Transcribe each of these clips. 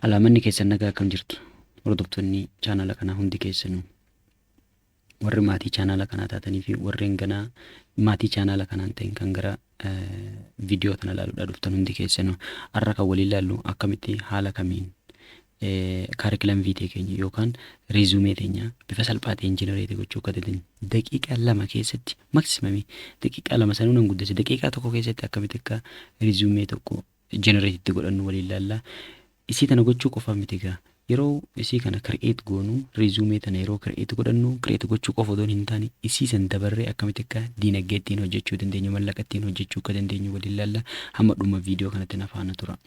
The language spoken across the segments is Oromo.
Alaa manni keessan nagaa akkam jirtu hordoftoonni chaanaala kanaa hundi keessanuu warri maatii chaanaala kanaa taatanii fi warreen ganaa maatii chaanaala kanaan ta'in kan gara viidiyoo kana ilaaluudhaa dhuftan hundi keessanuu har'a kan waliin ilaallu akkamitti haala kamiin kaarikilam viitee keenya yookaan riizumee keenya bifa salphaa ta'een jenereetii gochuu akka dandeenyu daqiiqaa lama keessatti maksimamii daqiiqaa lama sanuu nan guddise daqiiqaa tokko keessatti akkamitti akka riizumee tokko generate itti godhannu waliin laalla. Isii tana gochuu qofa miti egaa. Yeroo isii kana create goonu resume tana yeroo create godhannu create gochuu qofa odoon hin taane isii san dabarree akkamitti akka diinagdee ittiin hojjechuu dandeenyu mallaqa ittiin hojjechuu akka dandeenyu waliin laalla hamma dhuma viidiyoo kanatti na faana tura.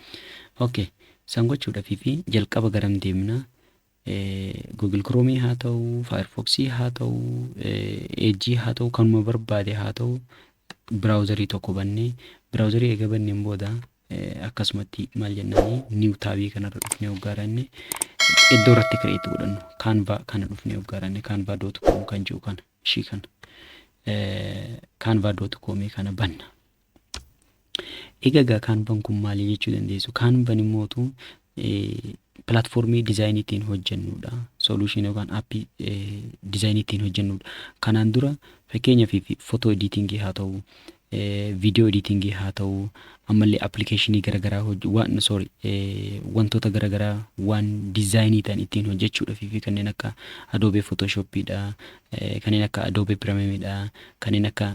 Okay. San gochuudhaaf fi jalqaba garam deemna? Google Chrome haa ta'u, Firefox haa ta'u, Edge haa ta'u, kanuma barbaade haa ta'u biraawuzarii tokko bannee biraawuzarii eega banneen booda akkasumatti maal jennaanii niiw taabii kanarra dhufnee hoggaaranne iddoo irratti kireetti godhannu kaanvaa kana dhufnee hoggaaranne kaanvaa dootu koom kan jiru kana ishii kana kaanvaa dootu koomii kana banna Egaa egaa kaanvan kun maali jechuu dandeessu? Kaanvan immootu pilaatfoormii dizaayinii ittiin hojjennudha. Soluushin yookaan appii dizaayinii ittiin hojjennudha. Kanaan dura fakkeenyaaf footoo ediitingii haa ta'u, viidiyoo ediitingii haa ta'u, ammallee appilikeeshinii garaagaraa hojje waan sorry wantoota garaagaraa waan dizaayinii ta'an ittiin hojjechuudhaaf fi kanneen akka adoobee footooshoppiidha, kanneen akka adoobee pirameemidha, kanneen akka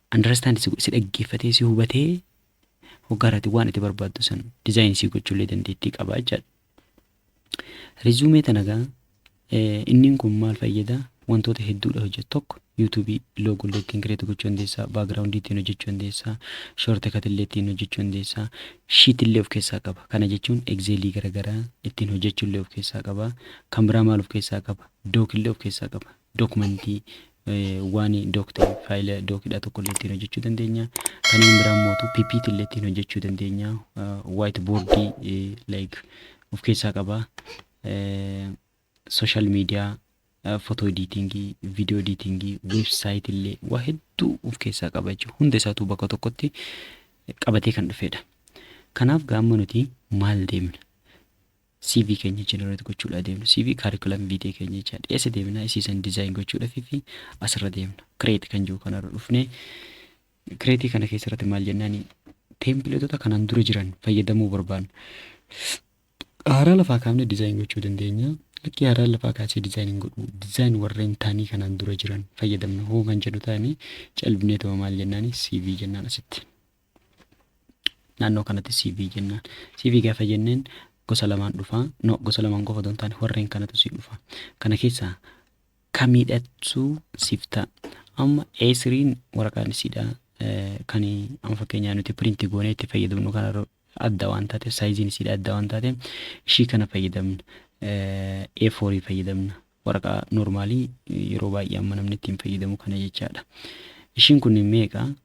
understand si godhe si dhaggeeffatee si hubatee hoggaarati waan itti barbaaddu san design si gochullee dandeettii qaba jechaadha. Resume tana gaa inniin kun maal fayyada wantoota hedduudha hojjetu tokko yuutuubii loogoo illee ittiin kireetu gochuu dandeessaa baagiraawundii ittiin hojjechuu dandeessaa shoorti kati illee ittiin hojjechuu dandeessaa shiit illee of keessaa qaba kana jechuun egzeelii garaagaraa ittiin hojjechuu illee of keessaa qaba kan biraa maal of keessaa qaba dook illee of keessaa qaba Documentii waan doc ta'e file doc dha tokko illee ittiin hojjechuu dandeenya. Kanneen biraa mootu ppt illee ittiin hojjechuu dandeenya. White board like of keessaa qaba. Social media photo editing, video editing, website illee waa hedduu of keessaa qaba jechuudha. Hunda isaatuu bakka tokkotti qabatee kan dhufedha. Kanaaf gaamma nuti maal deemna? CV keenya generate gochuudha deemna. CV curriculum vitae keenya jecha dhiyeessa deemna. Isii san design gochuudhaaf fi asirra deemna. Create kan jiru kanarra dhufne. Create kana keessatti maal jennaan teempileetota kanaan dura jiran fayyadamuu barbaanna. Haaraa lafaa kaafnee design gochuu dandeenya. Lakkii haaraa lafaa kaasee design hin godhu. Design warreen taanii kanaan dura jiran fayyadamna hoo kan jedhu taane calbinee ta'u maal jennaan CV jennaan asitti. naannoo kanatti CV jennaan. CV gaafa jenneen gosa lamaan dhufa. No, gosa lamaan qofa otoo hin taane warreen kanatu si dhufa. Kana keessaa kamiidhattu siif ta'a. Amma A3n waraqaan isiidha eh, kan amma fakkeenyaa nuti piriinti goonee itti fayyadamnu kana irra adda waan taateef saayiziin isiidha adda waan taateef ishii kana fayyadamna. Eh, A4 fayyadamna. Waraqaa noormaalii yeroo baay'ee amma namni ittiin fayyadamu kana jechaadha. Ishiin kun meeqa?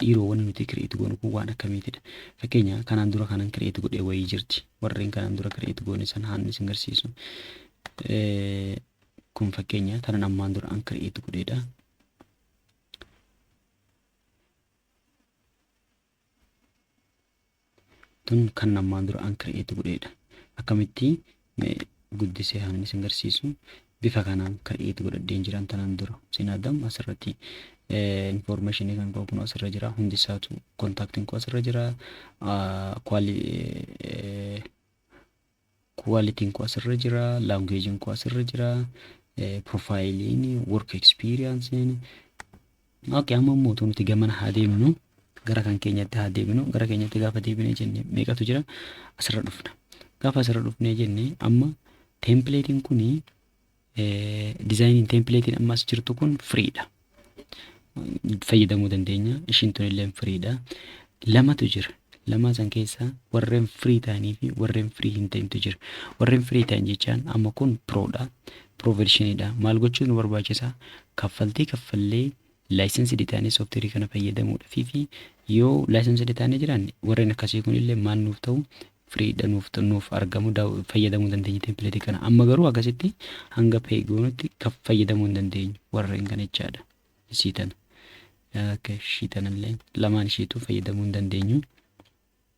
Dhiiroo wani nuti create goonu kun waan akkamiitidha? Fakkeenya kanaan dura kanan create godhe wayii jirti. Warreen kanaan dura create goone san haan isin garsiisu. Kun fakkeenya tanan ammaan dura an create godheedha. tun kan ammaan dura an create godheedha akkamitti mee guddisee hanan isin garsiisu bifa kanaan create godhadheen jiran tanan dura isin adam asirratti information kan qabu kun asirra jira hundi isaatu contactin koo asirra jira quali Quality'n koo asirra jira, language'n koo asirra jira, profile'n, work experience'n. Okay, amma immoo utuu nuti gamana haa deemnu, gara kan keenyatti haa deebinu, gara keenyatti gaafa deebinee jenne meeqatu jira? Asirra dhufna. Gaafa asirra dhufnee jenne amma template'n kuni Dizaayiniin teempileetiin amma as jirtu kun firiidha. Fayyadamuu dandeenya. Ishiin tun illee firiidha. Lamatu jira. Lamaa san keessaa warreen firii ta'anii fi warreen firii hin ta'intu jira. Warreen firii ta'an jechaan amma kun piroodha. Piroo vershiniidha. Maal gochuun nu barbaachisa? Kaffaltii kaffallee Licensed taanee software kana fayyadamuudhafi fi yoo licensed taanee jiraanne warreen akkasii kun illee maal nuuf ta'u free dha nuuf nuuf argamu fayyadamuu dandeenya template kana amma garuu akkasitti hanga pay goonutti kan fayyadamuu hin dandeenyu warreen kana jechaadha isii tana akka ishii tanallee lamaan ishiitu fayyadamuu hin dandeenyu.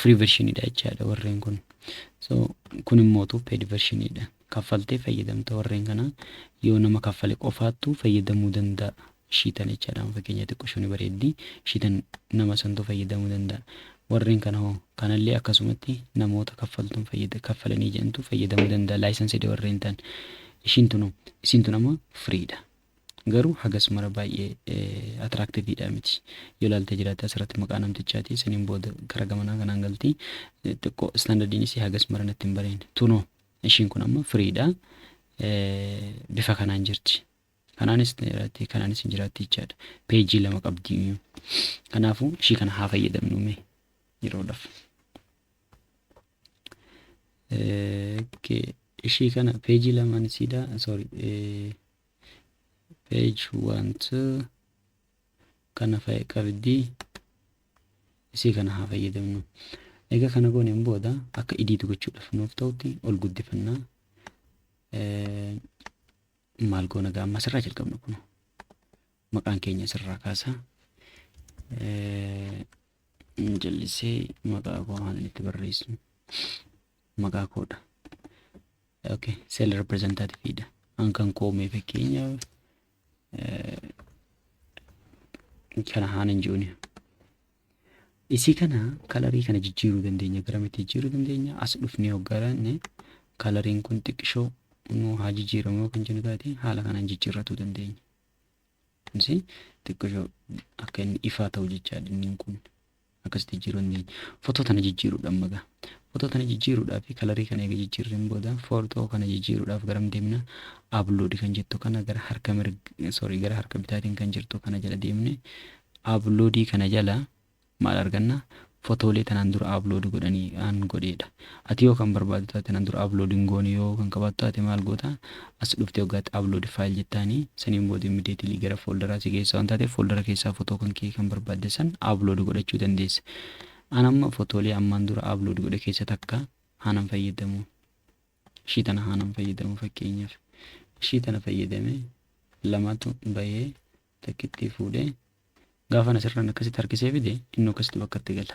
free version dha jechaadha warreen kun so kun immootu paid version dha kaffaltee fayyadamta warreen kana yoo nama kaffale qofaattu fayyadamuu danda'a shiitan jechaadha amma fakkeenya xiqqoshoo ni bareeddi shiitan nama santu fayyadamuu danda'a warreen kana hoo kanallee akkasumatti namoota kaffaltuun fayyada kaffalanii jedhantu fayyadamuu danda'a laayisansidha warreen ta'an ishiin tunu isin tun amma free dha Garuu hagas mara baay'ee attractive dha miti. Yoo ilaaltee jiraatte asirratti maqaa namtichaati saniin booda kara gamanaa kanaan galti. Xiqqoo standardiin isii hagas mara natti hin bareedne. Tunoo ishiin kun amma free dha. Bifa kanaan jirti. Kanaanis ni jiraatti kanaanis hin jiraatti jechaadha. Peejii lama qabdi iyyuu. Kanaafuu ishii kana haa fayyadamnu mee yeroodhaaf. Ishii kana peejii lamaan isiidha. Sorry. page wanti kana fa'i qabdi isii kana haa fayyadamnu egaa kana gooneen booda akka idiit gochuudhaaf nuuf ta'utti ol guddifannaa maal goona gaa amma asirraa jalqabna kun maqaan keenya asirraa kaasa jallisee maqaa koo haalan itti barreessu maqaa koodha. Okay, sel representative dha. An kan koo mee fakkeenya kana haan hin jiruun. Isii kana kalarii kana jijjiiruu dandeenya. Garamitti jijjiiruu dandeenya? As dhufnee hoggaranne kalariin kun xiqqishoo nu haa jijjiiramu yoo kan jennu taate haala kanaan jijjiirratuu dandeenya. Kunis xiqqishoo akka inni ifaa ta'u jechaa dinniin kun. akkasitti jijjiiruu hin dandeenye. Fotoo tana jijjiiruudha amma gaa. Fotoo tana jijjiiruudhaaf fi kalarii kana eega jijjiirreen booda fotoo kana jijjiiruudhaaf garam deemna? Upload kan jettu kana gara harka mirga sorry gara harka bitaatiin kan jirtu kana jala deemne uploadii kana jala maal arganna? Fotoolee tanaan dura upload godhanii aan godheedha. Ati yoo kan barbaadu taate nan dura upload hin goone yoo kan qabaatu taate maal goota as dhufte hoggaatti upload file jettaani saniin booda immediately gara folderaa si geessa waan taateef foldera keessaa fotoo kan kee kan barbaadde san upload godhachuu dandeessa. An amma fotoolee ammaan dura upload godhe keessa takka haanan fayyadamu. Ishii tana haanan fayyadamu fakkeenyaaf. Ishii tana fayyadame lamatu bahee takkittii fuudhee gaafan asirraan akkasitti harkisee fide inni akkasitti bakka itti gala.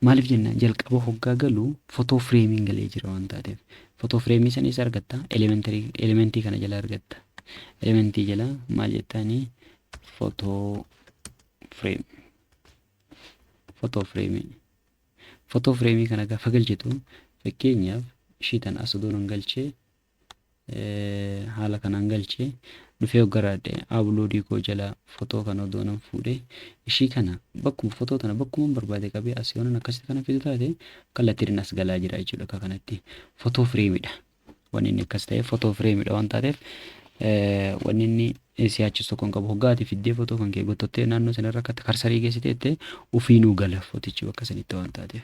Maaliif jennaan jalqaba hoggaa galu fotoo fireemiin galee jira waan taateef. Fotoo fireemii sana eessa argatta? Elementarii- Elementii kana jala argatta. Elementii jala maal jettaanii? Fotoo fireem. Fotoo fireemii. Fotoo fireemii kana gaafa galchitu fakkeenyaaf ishii tan as odoo nan galchee haala kanaan galche dhufee hoggaraadhe abloodii koo jalaa fotoo kana odoo nan fuudhe ishii kana bakkuma fotoo tana bakkuman barbaade qabee as yoonan akkasitti kana fidu taate kallattiin as galaa jira jechuudha akka kanatti fotoo fireemidha wanni inni akkas ta'e fotoo fireemidha waan taateef wanni inni si'aachis tokko hin qabu hoggaa ati fiddee fotoo kan kee gottottee naannoo sanarra akka karsarii geessiteette ofiinuu gala fotichi bakka sanitti waan taateef.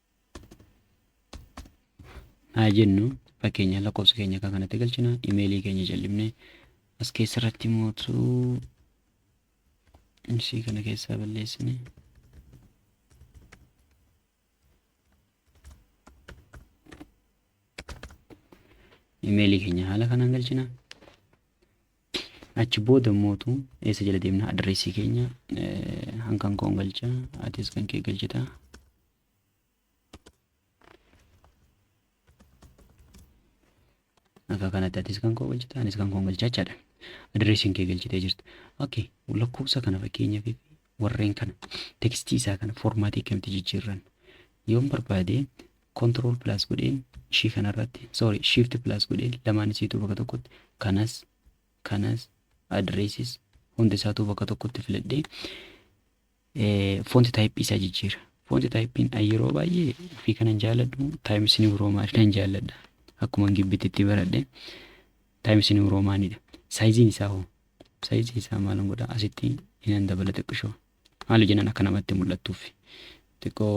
haa jennu fakkeenyaaf lakkoofsa keenya akka kanatti galchina imeelii keenya jal'ifne as keessa irratti mootu isii kana keessaa balleessine imeelii keenya haala kanaan galchina Achi booda mootu eessa jala deemna adreessii keenya hankan koon galcha atis kan kee galchita. Akka kanatti atis kan koo galchita anis kan koon galcha jechaadha. Adreessiin kee galchitee jirta. Okay lakkoofsa kana fakkeenyaaf warreen kana tekstii isaa kana foormaatii akkamitti jijjiirran yoon barbaade control plus godheen ishii kanarratti sorry shift plus godheen lamaan isiituu bakka tokkotti kanas kanas addresses hundi isaatuu bakka tokkotti filadhee fonti taayippii isaa jijjiira. Fonti taayippiin yeroo baay'ee ofii kanan jaalladhu taayimis niw roomaan nan jaalladha. Akkuma gibbitti itti baradhe taayimis niw roomaanidha. Saayiziin isaa hoo? Saayiziin isaa maalan godha? Asitti inan dabala xiqqishoo. Maaliif jennaan akka namatti mul'attuuf. Xiqqoo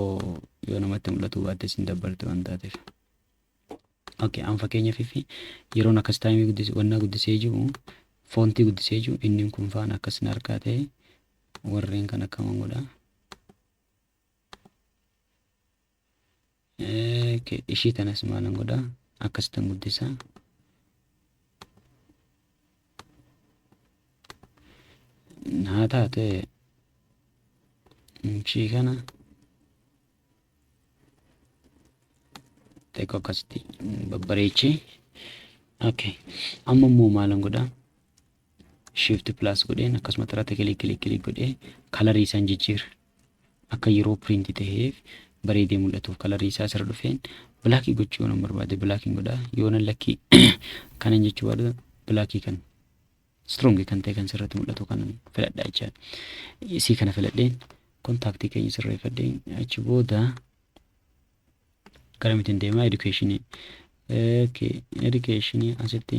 yoo namatti mul'atuu baattes hin dabbarte waan taateef. Okay, an fakkeenyaaf fi yeroon akkas taayimii guddisee wannaa guddisee jiru foontii guddisee jiru inni kun faan akkas na harkaa ta'e warreen kan akkaman godha. ishii tanas maalan godha akkasitan guddisa haa taate ishii kana xiqqoo akkasitti babbareechi okay amma immoo maalan godha shift plus godheen akkasumatti irratti kilik kilik kilik godhee kalarii isaan jijjiira akka yeroo piriinti ta'eef bareedee mul'atuuf kalarii isaa asirra dhufeen bilaakii gochuu yoon barbaade bilaakiin godha yoona lakkii kanan jechuu barbaadu bilaakii kan strong kan ta'e kan sirratti mul'atu kan filadha jecha isii kana filadheen kontaaktii keenya sirreeffadheen achi booda garamitiin deemaa edukeeshinii okay edukeeshinii asitti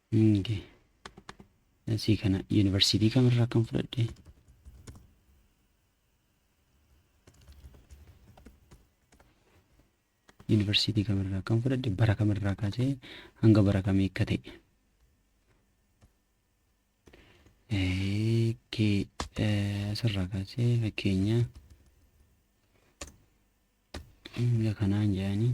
Inge. Asii kana yuunivarsiitii kamirraa akkan fudhadhe. Yuunivarsiitii kamirraa akkan fudhadhe bara kamirraa kaasee hanga bara kamii akka ta'e. Asirraa kaasee fakkeenya hanga kanaan jedhanii.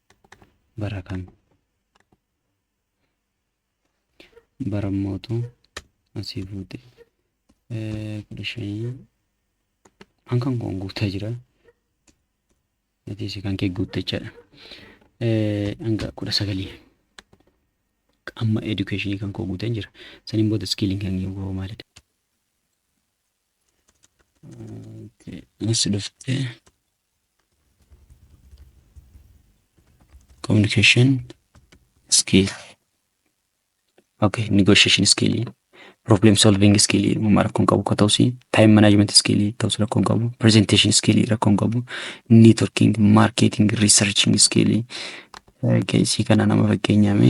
bara kam bara mootu asii fuute kudha shanii an kan koon guutaa jira atiis kan kee guutte jechaadha hanga kudha sagalii amma edukeeshinii kan koo guuteen jira saniin booda iskiiliin kan koo maalidha Anis dhuftee communication skill. Okay, negotiation skill. Problem solving skill uumaa rakkoon qabu akka ta'us time management skill ta'us rakkoon qabu presentation skill rakkoon qabu networking marketing researching skill keessi kana nama fakkeenyaame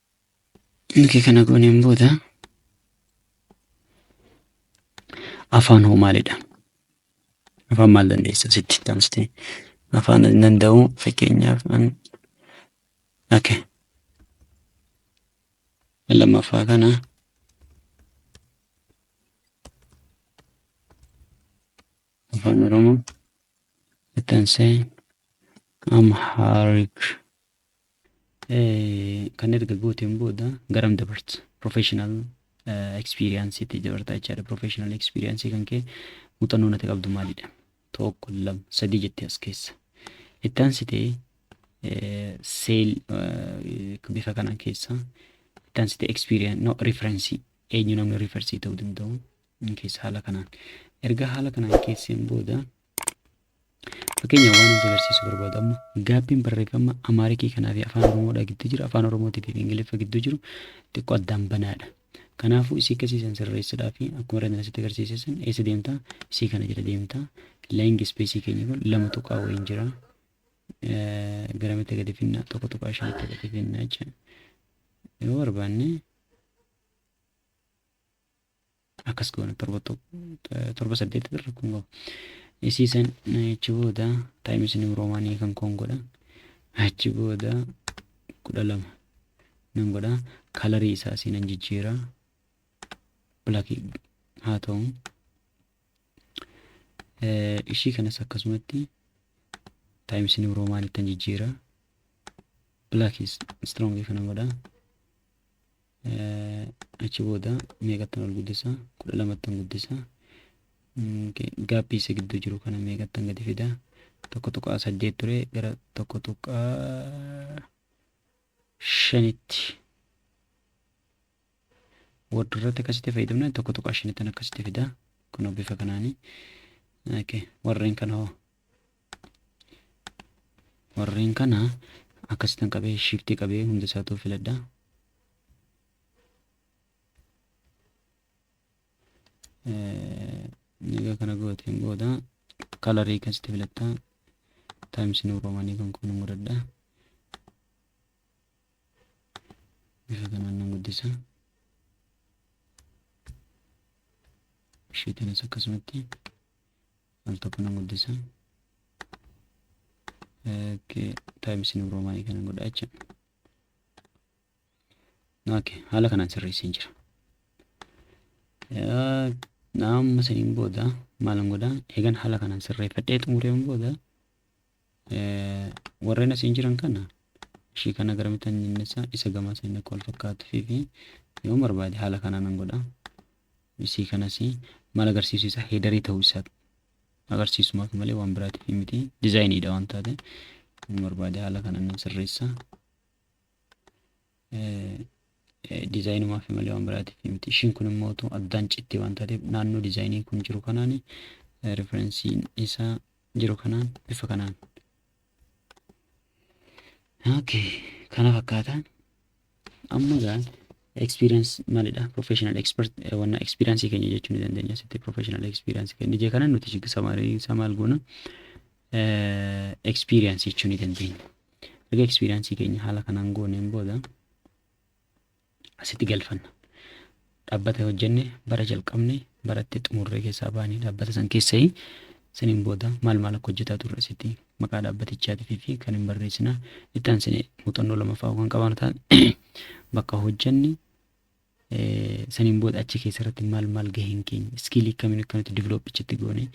Erga kana gooneen booda afaan hoo maalidha? Afaan maal dandeessa sitti taasiste? Afaan hin danda'u fakkeenyaaf an okay. lammaffaa kana afaan oromoo itti ansee amhaarik Kan erga gooteen booda garam dabarta? Professional experience itti dabartaa jechaadha. Professional experience kan kee muuxannoo nati qabdu maalidha? Tokko, lama, sadii jettee as keessa. Itti aansitee seel bifa kanaan keessa itti aansitee experience no reference eenyu namni reference ta'uu danda'u keessa haala kanaan. Erga haala kanaan keesseen booda Fakkeenya waan isin agarsiisu barbaadu amma gaappiin barreeffama Amaarikii kanaa fi Afaan Oromoodhaa gidduu jiru Afaan Oromootii fi Ingiliffa gidduu jiru xiqqoo addaan banaadha. Kanaafuu isii akkasii san sirreessuudhaa fi akkuma irratti asitti agarsiise san eessa deemta isii kana jala deemta laayingi ispeesii keenya kun lama tuqaa wayiin jira. Garamitti gadi finna tokko tuqaa shanitti gadi finna jecha yoo barbaanne akkas goona torba torba saddeet irra kun qaba isii san achi booda taayimis niw roomaanii kan koon godha achi booda kudha lama nan godha kalarii isaa siin an jijjiira bilakii haa ta'u ishii kanas akkasumatti taayimis niw roomaanii tan jijjiira bilakii istirongii kana godha achi booda meeqattan ol guddisa kudha lamattan guddisa gaappii isa gidduu jiru kana meeqattan gadi fida tokko tuqaa saddeet ture gara tokko tuqaa shanitti word irratti akkasitti fayyadamna tokko tuqaa shanittan akkasitti fida kunoo bifa kanaani warreen kana hoo warreen kana akkasitan qabee shiftii qabee hunda isaatu filadha egaa kana gooteen booda kalarii kasitti filatta taayims nu roomanii kan kun godhadha bifa kanaan nan guddisa ishiitiinis akkasumatti al tokko nan guddisa okay times new roman kana godha jecha okay haala kanaan sirreesseen jira naamma saniin booda maalan godha eegan haala kanaan sirreeffadhee xumureen booda warreen asiin jiran kana ishii kana garamitti hin dhinnessa isa gamaa seenna akka wal fakkaatu fi fi yoo barbaade haala kanaa nan godha isii kanas maal agarsiisu isaa heedarii ta'uu isaa agarsiisumaaf malee waan biraatiif miti dizaayiniidha waan taate hin barbaade haala kanaan nan sirreessa. dizaayinumaaf malee waan biraatiif miti. Ishiin kun immoo otoo addaan cittee waan taateef naannoo dizaayiniin kun jiru kanaan riferensiin isaa jiru kanaan bifa kanaan. Okay, kana fakkaata. Amma egaa experience maalidha? Professional expert wanna experience keenya jechuu ni dandeenya. Sitti professional experience keenya. Ije kana nuti samarii isaa maal goona? experience jechuu ni dandeenya. Erga experience keenya haala kanaan gooneen booda asitti galfanna. Dhaabbata hojjenne bara jalqabne baratti xumurree keessaa baane dhaabbata san keessa saniin booda maal maal akka hojjetaa turre asitti maqaa dhaabbatichaatii fi kan hin barreessina. Itti aansine muuxannoo lamaffaa kan qabaanu taate bakka hojjenne saniin booda achi keessa irratti maal maal gaheen keenya iskiilii akkamiin akkamitti diviloopi achitti goone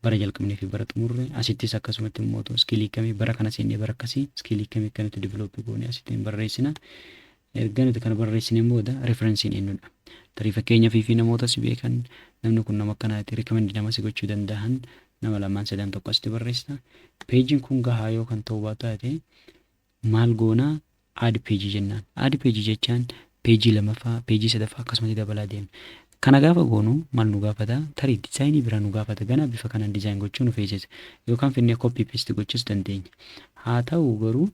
bara jalqabnee fi bara xumurre asittis akkasumatti immoo otoo iskiilii akkamii bara kana seennee bara akkasii iskiilii akkamii akkamitti diviloopi goone asitti hin barreessina erga nuti kana barreessineen booda referensiin eenyudha tarii fakkeenyaaf fi namoota si beekan namni kun nama akkanaati rikamendi nama si gochuu danda'an nama lamaan sadan tokko asitti barreessita peejiin kun gahaa yoo kan ta'uu baataate maal goona add page jennaan. Add page jechaan page lamaffaa, page sadaffaa akkasumatti dabalaa deema. Kana gaafa goonu maal nu gaafata? Tarii dizaayinii biraa nu gaafata. Ganaa bifa kanaan dizaayin gochuu nu feesisa. Yookaan finnee copy paste gochuus dandeenya. Haa ta'u garuu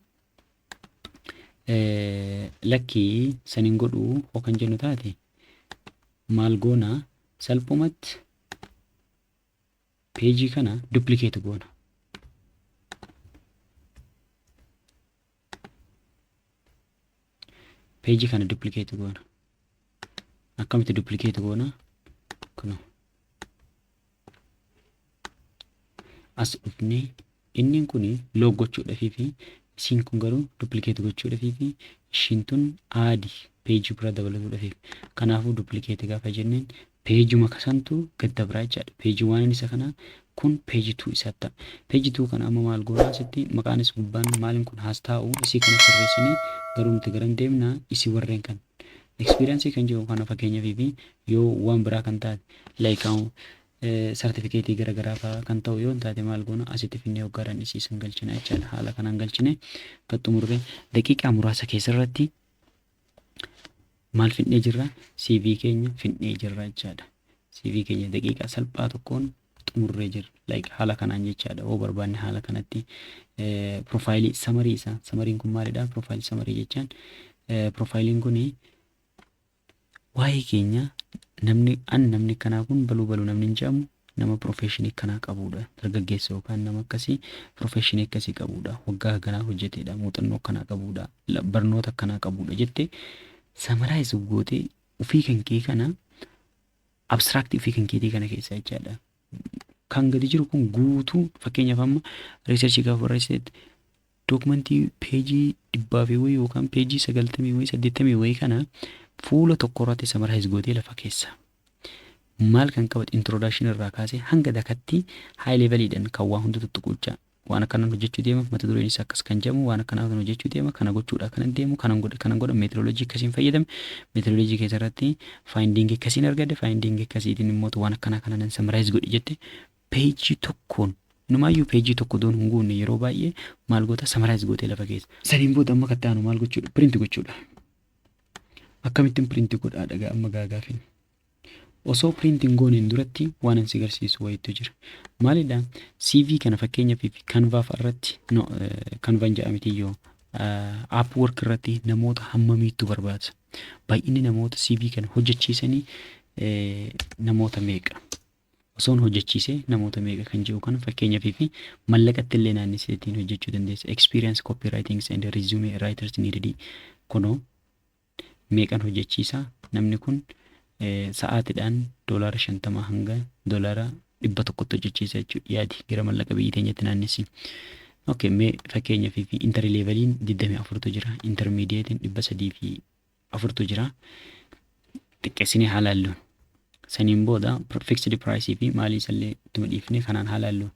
lakkii san hin godhuu hoo kan jennu taate maal goona salphumatti Peejii kana duplicate goona. Peejii kana duplicate goona. Akkamitti duplicate goona? Kunoo. As dhufnee Innin kun lock gochuudhafiifi isiin kun garuu duplicate gochuudhafiifi ishiin tun add page bira dabalatuudhafiif. Kanaafuu duplicate gaafa jenneen page uma kasantu gad dabra jechaadha. Page one isa kana kun page two isaatti ta'a. Page two kana amma maal goona asitti maqaanis gubbaan maalin kun has taa'u isii kana sirreessine garuu nuti garam deemna isii warreen kan experience kan jedhu kana fakkeenyafiifi yoo waan biraa kan taate like Sartifikeetii gara garaa fa'aa kan ta'u yoo hin taate maal goona asitti finnee hoggaa dhandhisiisan galchina jechaadha. Haala kanaan galchine gad xumurree daqiiqaa muraasa keessarratti maal finnee jirra CV keenya finnee jirra jechaadha. CV keenya daqiiqaa salphaa tokkoon xumurree jirra. Like haala kanaan jechaadha. Yoo barbaanne haala kanatti piroofaayilii samarii isaa samariin kun maalidha? Piroofaayilii samarii jechaan piroofaayiliin kun Waa'ee keenya namni an namni akkanaa kun baluu baluu namni hin jedhamu nama profeshinii akkanaa qabuudha dargaggeessa yookaan nama akkasii profeshinii akkasii qabuudha waggaa akkanaa hojjeteedha muuxannoo akkanaa qabuudha la- barnoota akkanaa qabuudha jette samaraayiz gootee ofii kan kee kana abstract ofii kan keetii kana keessaa jechaadha kan gadi jiru kun guutuu fakkeenyaaf amma researchii gaafa barreessitetti Documentii peejii dhibbaa fi wayii yookaan peejii sagaltamii wayii saddeettamii wayii kana fuula tokko irratti summarize gootee lafa keessa. Maal kan qabate introduction irraa kaasee hanga dakatti high level dhan kan waa hunda tuttuquucha waan akkanaan hojjechuu deema mata dureen isaa akkas kan jedhamu waan akkanaa kan hojjechuu deema kana gochuudhaa kanan deemu kanan godhe kanan godhe methodology akkasiin fayyadame methodology keessa irratti finding akkasiin argadhe finding akkasiitiin immoo waan akkanaa kana nan summarize godhe jette Peejii tokkoon numaayyuu peejii tokko doon hin guunne yeroo baay'ee maal goota samaraayiz gootee lafa keessa. Saniin booda amma katta aanu maal gochuudha piriinti gochuudha. Akkamittiin piriinti godhaa dhagaa amma gaagaafin. Osoo piriinti hin gooneen duratti waan ansi garsiisu wayiitu jira. Maalidha CV kana fakkeenyaaf fi kanvaaf irratti no, kanvaan ja'a miti yoo app work irratti namoota hammamiittu barbaada. Baay'inni namoota CV kana hojjechiisanii namoota meeqa. osoon hojjechiise namoota meeqa kan jedhu kana fakkeenyaaf fi mallaqatti illee naannessee ittiin hojjechuu dandeessa. Experience copywritings and resume writers needed kunoo meeqan hojjechiisa namni kun sa'aatiidhaan doolaara shantama hanga doolaara dhibba tokkotti hojjechiisa jechuudha yaadi gara mallaqa biyyi teenyatti naannessi. Okay, mee fakkeenyaaf fi intarleevaliin 24tu jira, intarmiidiyeetiin 300 fi afurtu jira. Xiqqeessinee haa laallu. Saniin booda fixed price fi maalii isallee ittuma dhiifne kanaan haa laallu.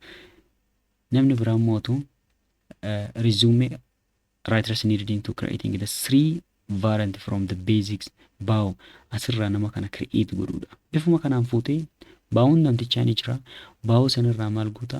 Namni biraa mootu resume writers needed into creating the three variant from the basics bow asirraa nama kana create godhuudha. Bifuma kanaan fuutee baawuun namtichaa ni jira. Baawuu sanirraa maal goota?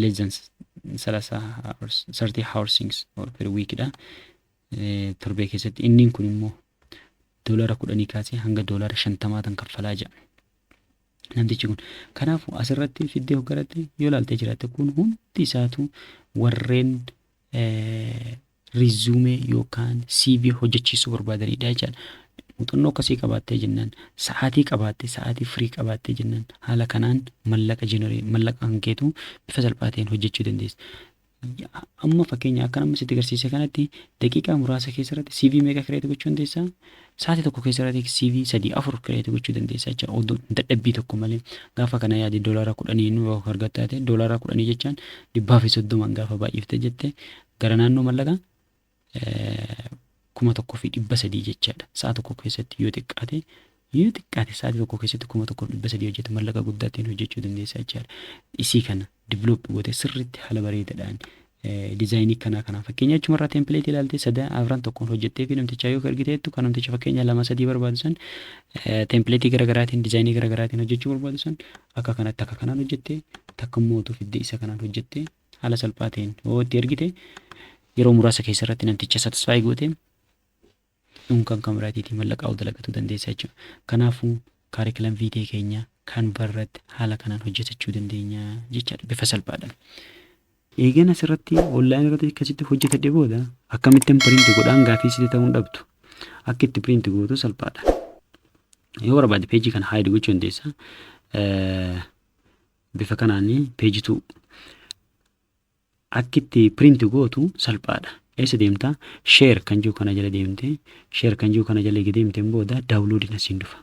less than 30 hours 30 hoursings or per week dha Eh, torbee keessatti inniin kun immoo doolara kudhanii kaasee hanga doolara shantamaa tan kaffalaa jira namtichi kun kanaafuu asirratti fiddee hoggaratti yoo laaltee jiraatte kun hundi isaatu warreen rizuumee yookaan CV hojjechiisuu barbaadaniidha jechaadha. Muuxannoo akkasii qabaattee jennaan sa'aatii qabaatte sa'aatii firii qabaattee jennaan haala kanaan mallaqa jeneree mallaqa kan keetu bifa salphaa ta'een hojjechuu dandeessa. Amma fakkeenya akka namni sitti agarsiise kanatti daqiiqaa muraasa keessatti CV meeqa kireetu gochuu dandeessaa? Sa'aatii tokko keessa irratti CV sadii afur kireeti gochuu dandeessa jecha odoo dadhabbii tokko malee gaafa kana yaadi doolaara kudhanii nu yoo argattaa ta'e doolaara kudhanii jechaan dhibbaa fi soddomaan gaafa baay'ifte jette gara naannoo mallaqa kuma tokko fi dhibba sadii jechaadha sa'a tokko keessatti yoo xiqqaate yoo xiqqaate sa'aatii tokko keessatti kuma tokko fi dhibba sadii hojjete mallaqa guddaa ta'een hojjechuu dandeessa jechaadha isii kana develop goote sirriitti haala bareedadhaan dizaayinii kanaa kanaa fakkeenya achuma irraa tempileetii ilaaltee sadan afran tokkoon hojjettee fi namtichaa yoo ergiteettu kan namticha fakkeenya lama sadii barbaadu san tempileetii garaagaraatiin dizaayinii garaagaraatiin hojjechuu barbaadu san akka kanatti akka kanaan hojjettee takka immoo utuu fiddee isa kanaan hojjettee haala salphaa ta'een yoo itti ergite yeroo muraasa keessa irratti namticha satisfaayi goote Nuun kan kan biraatiitii mallaqaa ol dalagatuu dandeessa jechuudha. Kanaafuu kaarikilam viitee keenya kan barratti haala kanaan hojjetachuu dandeenya jechaadha bifa salphaadhaan. Eegan asirratti online irratti akkasitti hojjetadhe booda akkamittan print godhaan gaafii sitti ta'uun dhabdu. Akka itti print gootu salphaadha. Yoo barbaade peejii kana hide gochuu dandeessa. Bifa kanaan peejituu Akki itti print gootu salphaadha. Eessa deemta? Share kan jiru kana jala deemte. Share kan jiru kana jala eega deemteen booda download na siin dhufa.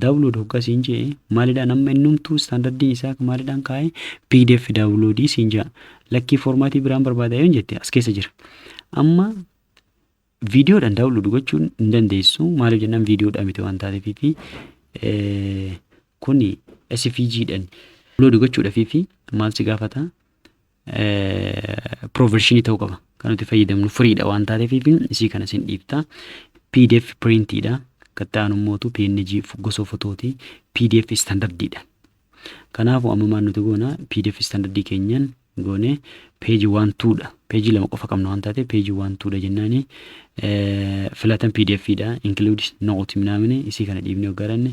Download hoggaa siin jee maalidhaan amma innumtuu standardiin isaa maalidhaan kaa'e pdf download siin jaa. Lakkii formaatii biraan barbaada yoon jette as keessa jira. Amma Viidiyoodhaan daawunlood gochuun hin dandeessu. Maaliif jennaan viidiyoodhaa miti waan taateef fi kuni SVG dhaan daawunlood gochuudhaaf fi maal si gaafata? Piroovershinii ta'uu qaba. Kan nuti fayyadamnu firiidha waan taateef fi isii kana sin dhiibta. PDF piriintiidha. Kan ta'an immoo PNG gosa fotooti. PDF istaandardiidha. Kanaafu amma maal nuti goona pdf standard keenyan goone page 1 2 dha. Page lama qofa qabna waan taate page 1 2 dha jennaani filatan pdf dha include note minamini isii kana dhiibnee hoggaranne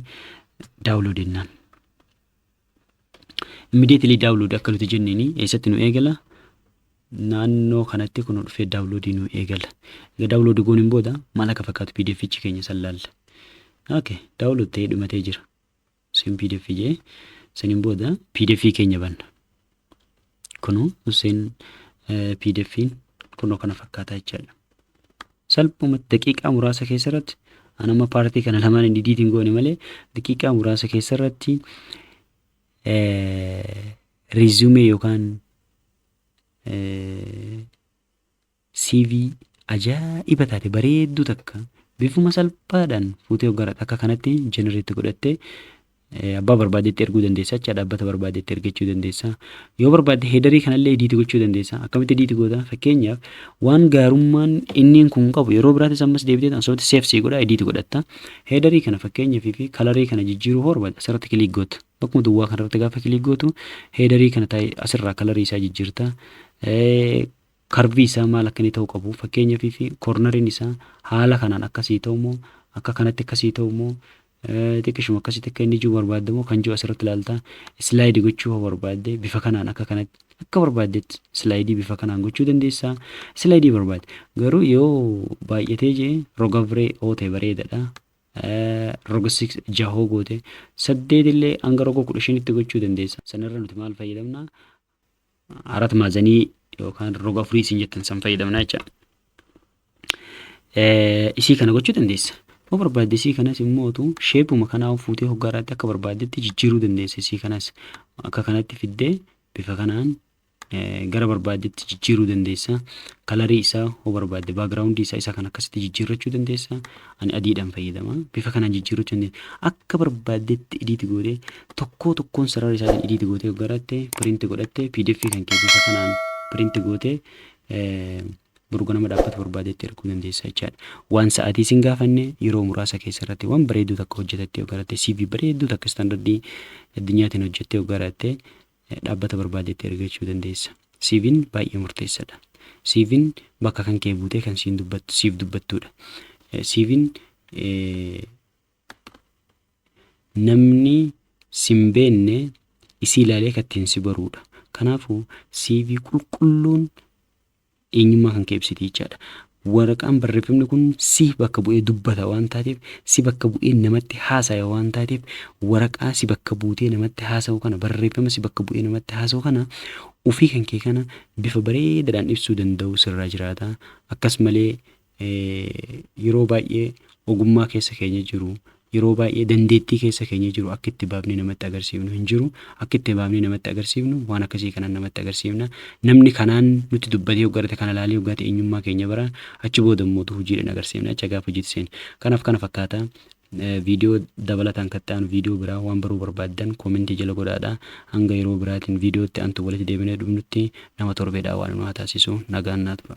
download jennaan. Immediately download akka nuti jenneeni eessatti nu eegala naannoo kanatti kun dhufee download nu eegala. Egaa download gooniin booda maal akka fakkaatu pdf keenya san laalla. Okay, download ta'ee dhumatee jira. Hussein pdf jee saniin booda pdf keenya banna. Kunuu Hussein pdf'n kunoo kana fakkaata jechaadha. Salphumatti daqiiqaa muraasa keessa irratti an amma paartii kana lamaan hin didiitiin goone malee daqiiqaa muraasa keessa irratti riizumee yookaan CV ajaa'iba taate bareedduu takka bifuma salphaadhaan fuutee hoggaadha akka kanatti generate godhattee eh, abbaa barbaadetti erguu dandeessa jecha dhaabbata barbaadetti ergachuu dandeessa yoo barbaadde heedarii kanallee ediiti gochuu dandeessa akkamitti ediiti goota fakkeenyaaf waan gaarummaan inniin kun qabu yeroo biraatis ammas deebitee asumatti seef sii godha ediiti godhatta heedarii kana fakkeenyaaf fi kalarii kana jijjiiruu hoo barbaadde asirratti kiliik gootu bakkuma duwwaa kanarratti gaafa kiliik gootu heedarii kana taa'e asirraa kalarii isaa jijjiirta Eh, Karvii isaa maal akka inni ta'uu qabu fakkeenyaaf fi kornariin isaa haala kanaan akka sii ta'u moo akka kanatti akka sii ta'u moo xiqqishuma akkasitti akka inni jiru barbaadda moo kan jiru asirratti ilaalta islaayidii gochuu yoo barbaadde bifa kanaan akka kanatti akka barbaaddetti islaayidii bifa kanaan gochuu dandeessa islaayidii barbaadde garuu yoo baay'atee jee roga biree oo ta'e bareedadha roga 6 jahoo goote saddeetillee hanga roga 15tti gochuu dandeessa sanarra nuti maal fayyadamna arat maazanii yookaan roga afurii isin jettan san fayyadamna jecha. Isii kana gochuu dandeessa. Yoo barbaadde isii kanas immoo utuu sheepuma kanaa fuutee hoggaa irratti akka barbaaddetti jijjiiruu dandeessa isii kanas akka kanatti fiddee bifa kanaan gara barbaaddetti jijjiiruu dandeessa. Kalarii isaa hoo barbaadde baagiraawundii isaa isa kan akkasitti jijjiirrachuu dandeessa. Ani adiidhaan fayyadama. Bifa kanaan jijjiirrachuu dandeessa. Akka barbaaddetti idiiti gootee Tokkoo tokkoon sarara isaatiin edit gootee yoo garatte print godhatte pdf kan kee bifa kanaan print gootee borganama dhaabbata barbaadetti erguu dandeessa jechaadha. Waan sa'aatii isin gaafanne yeroo muraasa keessa irratti waan bareedduu takka hojjetattee yoo garatte CV bareedduu takka istaandardii addunyaatiin hojjettee yoo garatte dhaabbata barbaadetti ergachuu dandeessa. CVn baay'ee murteessadha. CVn bakka kan kee buutee kan siin dubbattu siif dubbattuudha. CVn namni sin beenne isii ilaalee kan ittiin si baruudha. Kanaafuu CV qulqulluun eenyummaa kan kee ibsiti jechaadha. Waraqaan barreeffamni kun si bakka bu'ee dubbata waan taateef si bakka bu'ee namatti haasaya waan taateef waraqaa si bakka buutee namatti haasa'u kana barreeffama si bakka bu'ee namatti haasa'u kana ofii kan kee kana bifa bareedaadhaan ibsuu danda'u sirraa jiraata. Akkas malee yeroo baay'ee ogummaa keessa keenya jiru yeroo baay'ee dandeettii keessa keenya jiru akka itti baafnee namatti agarsiifnu hin jiru akka itti baafnee namatti agarsiifnu waan akkasii kanaan namatti agarsiifna namni kanaan nutti dubbatee hoggarate kana ilaalee hoggaate eenyummaa keenya bara achi booda immoo hojiidhaan agarsiifna acha gaafa hojiitti seenu kanaaf kana fakkaata viidiyoo dabalataan kan ta'an viidiyoo biraa waan baruu barbaaddan koomentii jala godhaadha hanga yeroo biraatiin viidiyootti antu walitti deebinee dhufnutti nama torbeedhaa waan nu haa taasisu nagaan naa tura.